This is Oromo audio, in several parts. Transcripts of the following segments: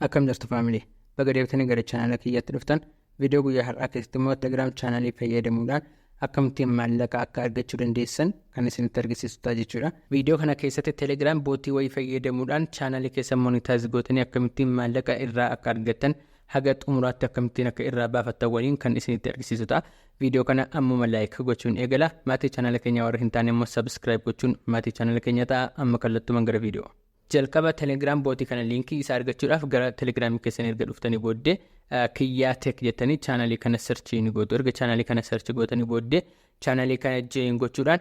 Akkam jirtu family baga deebitanii gara chaanala kiyyaatti dhuftan viidiyoo guyyaa har'aa keessatti immoo telegram chaanalii fayyadamuudhaan akkamittiin maallaqa akka argachuu dandeessan kan isinitti argisiisu ta'a jechuudha. Viidiyoo kana keessatti telegram bootii wayii fayyadamuudhaan chaanalii keessa monitaayiz gootanii akkamittiin maallaqa irraa akka argattan haga xumuraatti akkamittiin akka irraa baafattan waliin kan isinitti argisiisu ta'a. Viidiyoo kana ammuma laayik gochuun eegala. Maatii chaanala keenya warra hin taane immoo sabiskiraayib gochuun maatii chaanala keenya ta'a. Amma kallattumaan gara viidiyoo. Jalqaba telegram bot kana linkii isa argachuudhaaf gara telegram keessan erga dhuftanii booddee kiyyaa tech jettanii chaanalii kana search ni gootu erga chaanalii kana search gootanii booddee chaanalii kana join gochuudhaan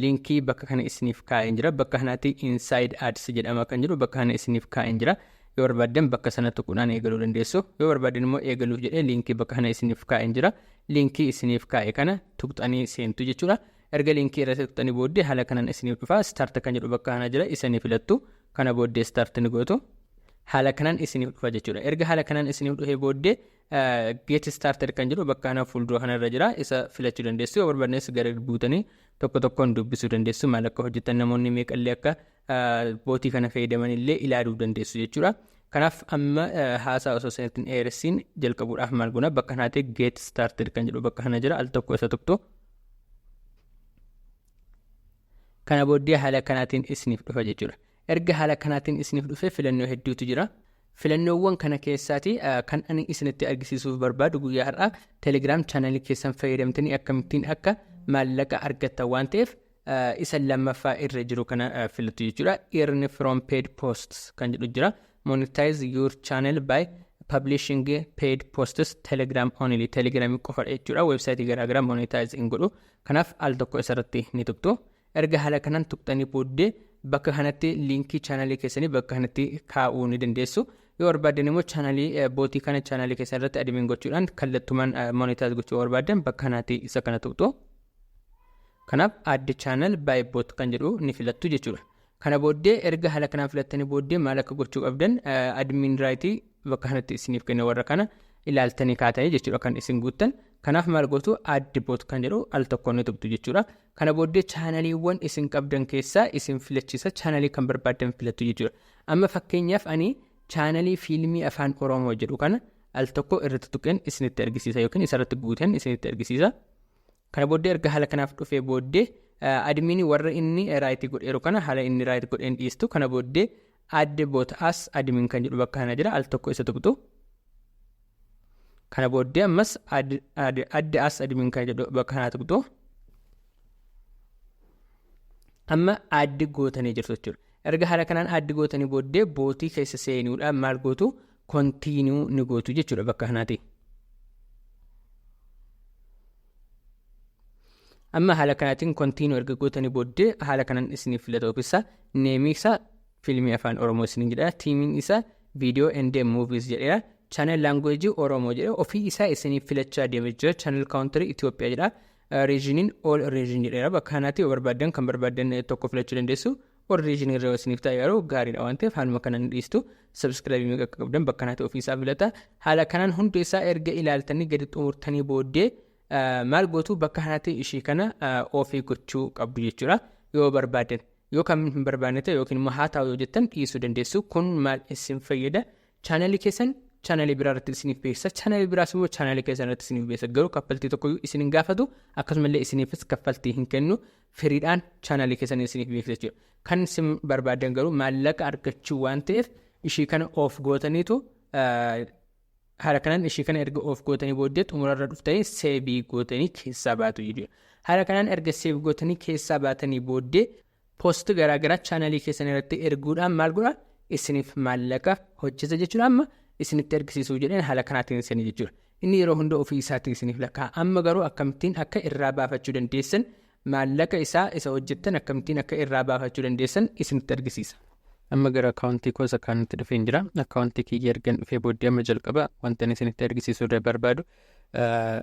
linkii bakka kana isiniif kaa'een jira bakka kanaatti inside ads jedhama kan jiru bakka kana isiniif kaa'een jira yoo barbaaddan bakka sana tuquudhaan eegaluu dandeessu yoo barbaaddan immoo eegaluuf jedhee linkii bakka kana isiniif kaa'een jira linkii isiniif kaa'e kana tuqxanii seentu jechuudha Erga linkii irra tuqxanii booddee haala kanaan isiniif dhufa. Start kan jedhu bakka kana jira isa ni filattu. Kana booddee start ni gootu. Haala kanaan isiniif dhufa jechuudha. Erga haala kanaan isiniif dhufee booddee get started kan jedhu bakka kana fuuldura kana irra jira isa filachuu dandeessu. Yoo barbaadnes gara buutanii tokko tokkoon dubbisuu dandeessu. Maal akka hojjetan namoonni meeqallee akka bootii kana fayyadaman illee ilaaluu dandeessu jechuudha. Kanaaf amma haasaa osoo sanitti hin dheeressiin jalqabuudhaaf maal goona bakka kanaa ta'e get started kan jedhu bakka kana jira al tokko isa tokko. Kana booddee haala kanaatiin isiniif dhufa jechuudha. Erga haala kanaatiin isiniif dhufe filannoo hedduutu jira. Filannoowwan kana keessaati kan ani isinitti argisiisuuf barbaadu guyyaa har'aa telegiraam chaanalii keessan fayyadamtanii akkamittiin akka maallaqa argattan waan ta'eef isa lammaffaa irra jiru kana filattu jechuudha earn from paid posts kan jedhu jira monetize your channel by publishing paid posts telegram only telegram qofadha jechuudha website garaagaraa monetize hin godhu kanaaf al tokko isarratti ni tuqxu erga haala kanaan tuqxanii booddee bakka kanatti liinkii chaanalii keessanii bakka kanatti kaa'uu ni dandeessu yoo barbaaddan immoo chaanalii bootii kana chaanalii keessan irratti admin gochuudhaan kallattumaan monetize gochuu barbaaddan bakka kanatti isa kana tuqxu Kanaaf add channel by bot kan jedhu ni filattu jechuudha. Kana booddee erga haala kanaan filattanii booddee maal akka gochuu qabdan admin right bakka kanatti isiniif kenna warra kana ilaaltanii kaatanii jechuudha kan isin guuttan. Kanaaf maal gootu add bot kan jedhu al tokkoon ni tuqxu jechuudha. Kana booddee chaanaliiwwan isin qabdan keessaa isin filachiisa chaanalii kan barbaaddan filattu jechuudha. Amma fakkeenyaaf ani chaanalii fiilmii afaan Oromoo jedhu kana al tokko irratti tuqeen isinitti argisiisa yookiin isarratti guuteen isinitti argisiisa. Kana booddee erga haala kanaaf dhufee booddee admin warra inni raayit godheeru kana haala inni raayit godheen dhiistu kana booddee add bot as admin kan jedhu bakka kana jira al tokko isa tuqxu kana booddee ammas add as admin kan jedhu bakka kana tuqxu amma add gootanii jirtu jechuudha erga haala kanaan add gootanii booddee bootii keessa seenuudhaan maal gootu continue ni gootu jechuudha bakka kanaati. Amma haala kanaatiin continue erga gootanii booddee haala kanaan isiniif filata ofisaa neemii isaa fiilmii afaan Oromoo isiniin jedha tiimiin isaa viidiyoo and movies jedheera channel language Oromoo jedhe ofii isaa isiniif filachaa deema jira channel country Itoophiyaa jedha regionin all region jedheera bakka kanaatti yoo barbaaddan kan barbaaddan tokko filachuu dandeessu Warri isin irra isiniif ta'e garuu gaariidha waan ta'eef haaluma kanaan ni dhiistu. Sabskiraabii meeqa akka qabdan bakka naati ofiisaa filata. Haala kanaan hundi isaa erga ilaaltanii gadi xumurtanii booddee maal gootu bakka kanatti ishii kana ofii gochuu qabdu jechuudha. Yoo barbaadan yoo kan hin barbaanne ta'e yookiin immoo haa taa'u yoo jettan dhiisuu dandeessu. Kun maal isin fayyada? Chaanalii keessan chaanalii biraa irratti isiniif beeksisa. Chaanalii biraas immoo chaanalii keessan irratti isiniif beeksisa. Garuu kaffaltii tokkoyyuu isin hin gaafatu. Akkasumallee isiniifis kaffaltii hin kennu. firiidhaan chaanaalii keessaniin isiniif beeksisa jechuudha. Kan isin barbaadan garuu maallaqa argachuu waan ta'eef ishii kana of gootaniitu haala kanaan ishii kana erga of gootanii booddee xumurarra dhuftanii seebii gootanii keessaa baatu jechuudha. Haala kanaan erga seev gootanii keessaa baatanii booddee poosti garaagaraa chaanaalii keessan irratti erguudhaan maal godha isiniif maallaqa hojjeta jechuudha amma isinitti ergisiisuu jedheen haala kanaatiin isin jechuudha. Inni yeroo hunda ofii isaatii isiniif lakkaa'a. Amma garuu akkamittiin akka irraa baafachuu dandeessan, maallaqa isaa isa hojjettan akkamittiin akka irraa baafachuu dandeessan isinitti argisiisa. Amma gara akkaawuntii koo isa kaanitti dhufeen jira. Akkaawuntii kiyya ergan dhufee booddee amma jalqaba wantan isinitti argisiisuu da- barbaadu ah,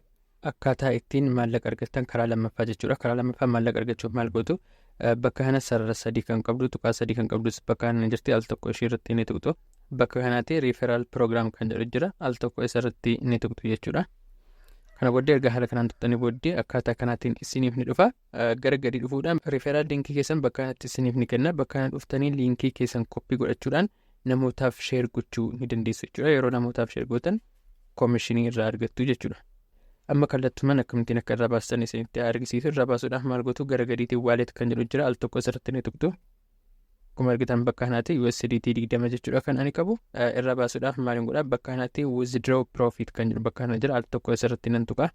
akkaataa ittiin maallaqa argattan karaa lammaffaa jechuudha. Karaa lammaffaa maallaqa argachuuf maal gootu? Ah, Bakka kana sarara sadii kan qabdu, tuqaa sadii kan qabdus bakka kana ni jirti. Al tokko ishii irratti ni tuqxu. Bakka kanatti referral program kan jedhu jira. Al tokko isarratti ni tuqxu jechuudha. Kana booddee erga haala kanaan tuqxanii booddee akkaataa kanaatiin isiniif ni dhufa. Gara gadi dhufuudhaan referral linkii keessan bakka kanatti isiniif ni kenna. Bakka kana dhuftanii linkii keessan koppii godhachuudhaan namootaaf sheer gochuu ni dandeessu jechuudha. Yeroo namootaaf sheer gootan koomishinii irraa argattu jechuudha. Amma kallattumaan akkamittiin akka irraa baastan isinitti argisiisu irraa baasuudhaaf maal gootu gara gadiitiin waaleet kan jedhu jira al tokko isarratti ni tuqxu. Akkuma argitan bakka kanaatti USDT 20 jechuudha kan ani qabu irra baasuudhaaf maaliin godha bakka kanaatti withdraw profit kan jedhu bakka kana jira al tokko asirratti nan tuqa.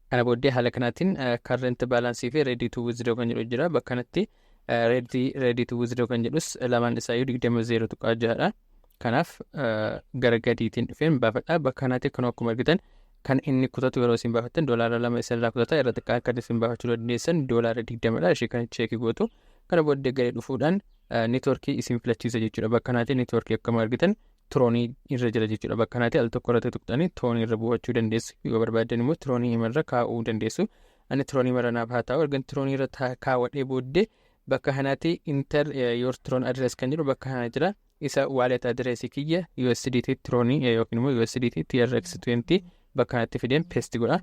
Kana booddee haala kanaatiin current balance fi ready to withdraw kan jedhu jira bakka kanatti ready ready to withdraw kan jedhus lamaan isaayyuu 20 0 tuqaa jahadha. Kanaaf gara gadiitiin dhufeen baafadha bakka kanaatti kan akkuma argitan kan inni kutatu yeroo isin baafattan doolaara lama isinirraa kutata irra xiqqaa akkatti isin baafachuu dandeessan doolaara digdamadha ishee kan cheekii gootu Kana booddee gadi dhufuudhaan networkii isin filachiisa jechuudha. Bakka kanaati networkii akkuma argitan tiroonii irra jira jechuudha. Bakka kanaati al tokko irratti tuqxanii tiroonii irra buufachuu dandeessu. Yoo barbaaddan immoo tiroonii imarra kaa'uu dandeessu. Ani tiroonii mara naaf haa taa'u. Ergan tiroonii irra kaawwadhee booddee bakka kanaati inter your tron address kan jedhu bakka kana jira. isa wallet address kiyya USDT Tron yookiin immoo USDT TRX20 bakka kanatti fideen paste godha.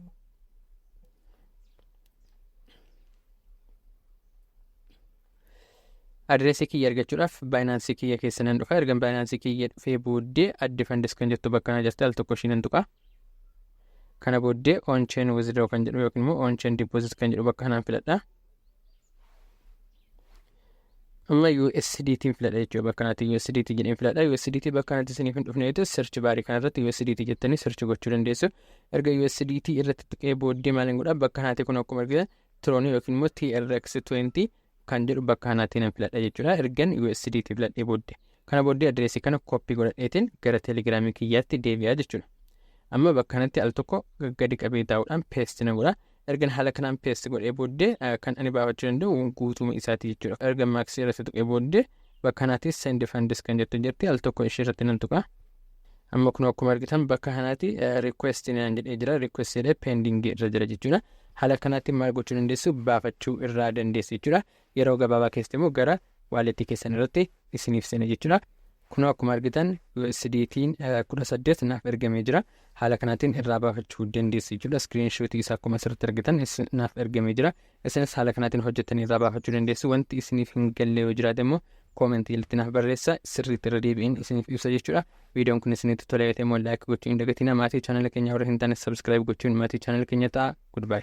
Address kiyya argachuudhaaf Binance kiyya keessa nan dhufa. Ergan Binance kiyya dhufee booddee adde funds kan jettu bakka kana jirti al tokko ishii nan tuqa. Kana booddee on chain withdraw kan jedhu yookiin immoo on chain deposit kan jedhu bakka kanaan filadha. Amma USDT filadha jechuudha bakka kanatti USDT jedheen filadha USDT bakka kanatti isiniif hin dhufne jechuudha search baarii kana irratti USDT jettanii search gochuu dandeessu erga USDT irratti tuqee booddee maal hin godha bakka kanatti kun akkuma argitan tiroonii yookiin immoo TRX 20 kan jedhu bakka kanatti nan filadha jechuudha ergan USDT filadhee booddee kana booddee adireesii kana koppii godhadheetiin gara telegiraamii kiyyaatti deebi'aa jechuudha amma bakka kanatti al tokko gadi qabee taa'uudhaan peesti na godha Ergan haala kanaan paste godhee booddee kan ani baafachuu danda'u guutuuma isaati jechuudha. Erga max irratti tuqee booddee bakka kanaatti send funds kan jettu jirti al tokko ishee irratti nan tuqa. Amma kun akkuma argitan bakka kanaatti request naan jedhee jira request jedhee pending irra jira jechuudha. Haala kanaatti maal gochuu dandeessu baafachuu irraa dandeessu jechuudha. Yeroo gabaabaa keessatti immoo gara waalleettii keessan irratti isiniif seena jechuudha. Kunoo akkuma argitan USDT 18 naaf ergamee jira. Haala kanaatiin irraa baafachuu dandeessu jechuudha. Iskiriin shootii isaa akkuma asirratti argitan naaf ergamee jira. Isinis haala kanaatiin hojjettanii irraa baafachuu dandeessu. Wanti isiniif hin galle yoo jiraate immoo koomentii jalatti naaf barreessa sirriitti irra deebi'een isiniif ibsa jechuudha. Viidiyoon kun isinitti tolee ta'e immoo laayik gochuu hin dagatinaa. Maatii chaanala keenyaa warra hin taane sabskiraayib gochuun maatii chaanala keenya ta'a. Goodbye.